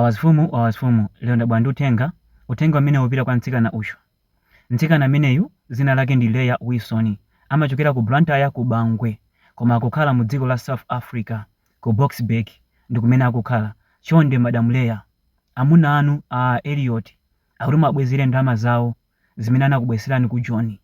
Wawazifumu, Wawazifumu, lero ndabwera ndi uthenga, uthenga umenewu upita kwa mtsikana uyu. Mtsikana ameneyu dzina lake ndi Leah Wilson, amachokera ku Blantyre ku Bangwe koma akukhala mu dziko la South Africa ku Boksburg ndi kumene akukhala. Chonde Madam Leah, amuna anu a Elliot akuti muwabwezere ndalama zawo zimene anakubweretserani ku Joni.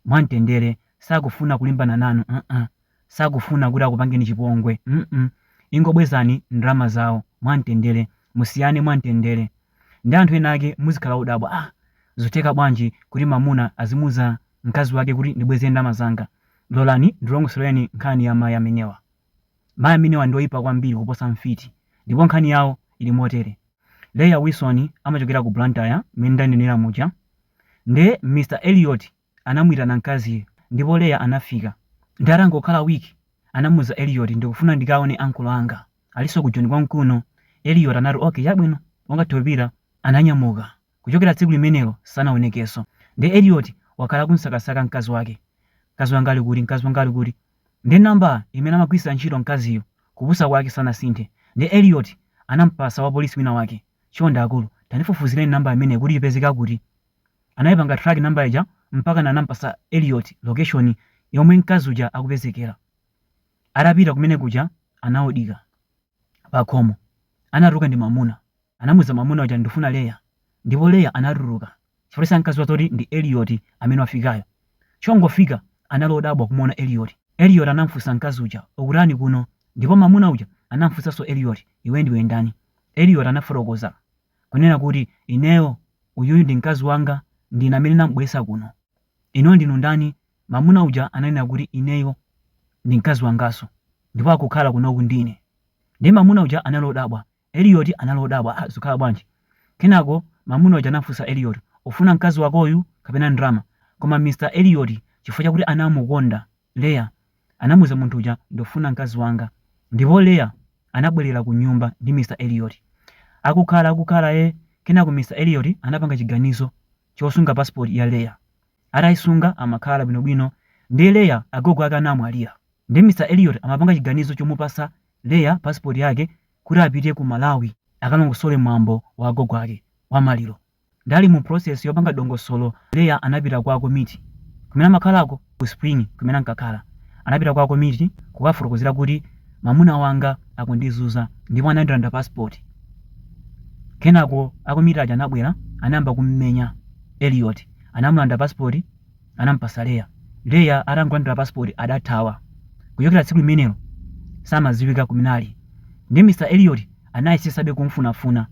mwamtendere sakufuna kulimbana nanu mm sakufuna kuti akupangeni chipongwe mm ingobwezani ndalama zawo mwamtendere musiyane mwamtendere nde anthu ena ake muzikhala odabwa ah zotheka bwanji kuti mamuna azimuza mkazi wake kuti ndibwezere ndalama zanga lolani ndilongosoleni nkhani ya mai amenewa. Mayi amenewa ndi oipa kwambiri kuposa mfiti ndipo nkhani yawo ili motere, Leah Wilson amachokera ku Blantyre mmene ndanenera muja nde Mr Elliot anamuitana mkaziyu ndipo Leah anafika nde atangokhala week anamuuza Elliot ndikufuna ndikaone uncle anga alinso ku Joni konkuno Elliot anati okay chabwino ungathe kupita ananyamuka Kuchokera tsiku limenelo sanaonekenso. Nde Elliot wakhala akumsakasaka mkazi wake. Mkazi wanga ali kuti? Mkazi wanga ali kuti? Nde number imene amagwiritsira ntchito mkaziyu, kupusa kwake sanasinthe. Nde Elliot anampatsa wapolisi wina wake. Chonde akulu, tandifufuzireni number imeneyi kuti ipezeka kuti. Anaipanga track number ija mpakana anampatsa Elliot location yomwe mkazi uja akupezekera. Atapita kumene kuja anaodira. pakhomo, anatuluka ndi mwamuna. Anamuza mwamuna uja ndifuna Leya ndipo Leya anatuluka chifukwa sankaziwa zoti ndi Eliot amene wafikayo. Chingofika anali odabwa kumuona Eliot. Eliot anamufunsa mkazi uja ukutani kuno ndipo mwamuna uja anamufunsaso Eliot iwe ndiwe ndani. Eliot anafotokoza kunena kuti ineyo uyuyu ndi mkazi wanga ndine amene ndamubweretsa kuno. Inuyo ndinu ndani? Mamuna uja ananena kuti ineyo ndi mkazi wangaso ndipo akukhala kunoku ndi ine ndiye mamuna uja anali odabwa Elioti anali odabwa ah zikukhala bwanji kenako mamuna uja anafusa Elioti ufuna mkazi wakoyu kapena ndalama koma Mr Elioti chifukwa chakuti anamukonda Leya anamuza munthu uja ndufuna mkazi wanga ndipo Leya anabwelela kunyumba ndi Mr Elioti akukhala akukhala eh kenako Mr Elioti anapanga chiganizo chosunga passport ya Leah. Ataisunga amakhala bwino bwino nde Leah agogo ake anamwalira nde Mr Eliot amapanga chiganizo chomupasa Leah passport yake kuti apite ku Malawi akalongosole mwambo wa agogo ake wa maliro nde ali mu process yopanga dongosolo Leah anapita kwa akomiti kumene amakhalako ku Springs kumene ankakhala. Anapita kwa akomiti kukawafotokozera kuti, Mwamuna wanga akundizunza ndipo anandilanda pasipoti. Kenako akomiti aja anabwera, anayamba kum'menya Elliot. Anamulanda pasipoti, anamupatsa Leah. Leah atangolandira pasipoti adathawa. Kuchokera tsiku limenelo samadziwika kumene ali. Ndiye Mr Elliot Anayesetsabe kumfunafuna.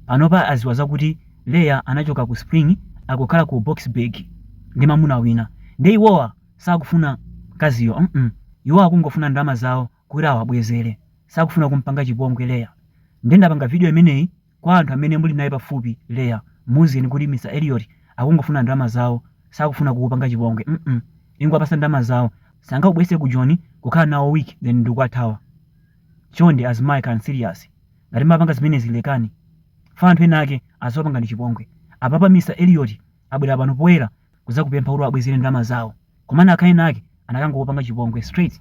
Panopa adziwa zakuti Leah anachoka ku Spring akukhala ku Boksburg ndi mamuna wina. Ndiye iwowa sakufuna mkaziyo mm iwowa akungofuna ndalama zawo kuti awabwezere. Sakufuna kumpanga chipongwe Leah. Ndiye ndapanga video imeneyi kwa anthu amene muli naye pafupi Leah muuzeni kuti Mr Elliot akungofuna ndalama zawo sakufuna kukupanga chipongwe mm ingowapatsa ndalama zawo sangakubweretse ku Joni kukhala nawo week then ndikuwathawa. Chonde azimayi khalani serious. Ngati mmapanga zimenezi lekani. Chifukwa anthu ena ake azakupangani chipongwe. Apapa Mr Elliot abwera pano poyera kuzakupempha kuti uwabwezere ndalama zawo. Komano akhale ena ake anakangokupanga chipongwe straight.